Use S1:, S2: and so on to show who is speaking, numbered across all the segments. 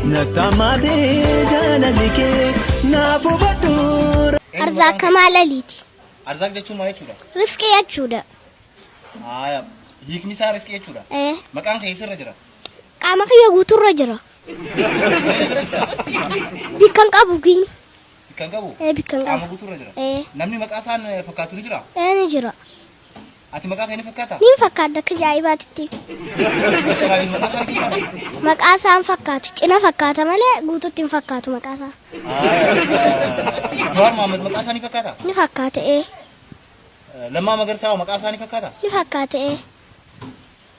S1: Nattamaatee jaalalli kee naaf hubadhu. Arzaaq kamaa
S2: laliiti. Arzaaq jechuun
S3: maal jechuudha? Risqii jechuudha.
S2: Haaya.
S3: Hiikni isaa risqii jechuudha. Ee, Maqaan kee eessarra jira? Qaama kiyya
S2: guuturra jira. Bikkan qabu giin. Bikkan qabu?
S3: Ee, bikkan Qaama qabu.
S2: guutuurra jira. Ee,
S3: Namni maqaa isaan fakkaatu ni jira? ee ni jira.
S2: Ati maqaa
S3: kee ni fakkaataa? Niin fakkaadha akka
S2: jaa'ibaatitti. Doktar
S3: Abiy maqaa isaa ni fakkaataa? Maqaa isaa hin
S2: fakkaatu. Cina fakkaata malee guututti hin fakkaatu maqaa isaa.
S3: Jawaar Mohaammed maqaa isaa ni fakkaataa? Ni fakkaata ee. Lammaa Magarsaa hoo maqaa isaa ni fakkaataa? Ni fakkaata ee.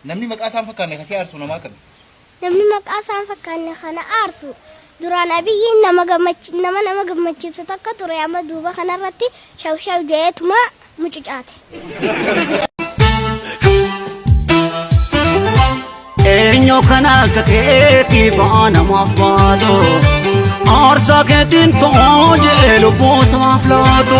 S3: Namni maqaa isaa hin fakkaanne kan si aarsu nama akkami? Namni maqaa
S2: isaa hin fakkaanne kan na aarsu duraan Abiyyiin nama gammachi nama nama gammachiisu takka ture amma duuba kanarratti shaw shaw ja'eetuma mucucaate.
S1: Eenyu kan akka keetii ba'aa namaaf baatu Aarsaa keetiin ta'oo jee lubbuu isaaf laatu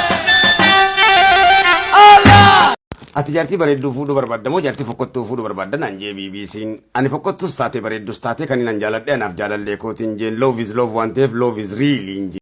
S4: Ati jaartii bareedduu fuudhuu barbaadda moo jaartii fokkottuu fuudhuu barbaadda naan jee BBC'n. Ani fokkottus taatee bareeddus taatee kan inni naan jaaladhe anaaf jaalallee kootiin jeen love is love waan ta'eef love is real hin jeen.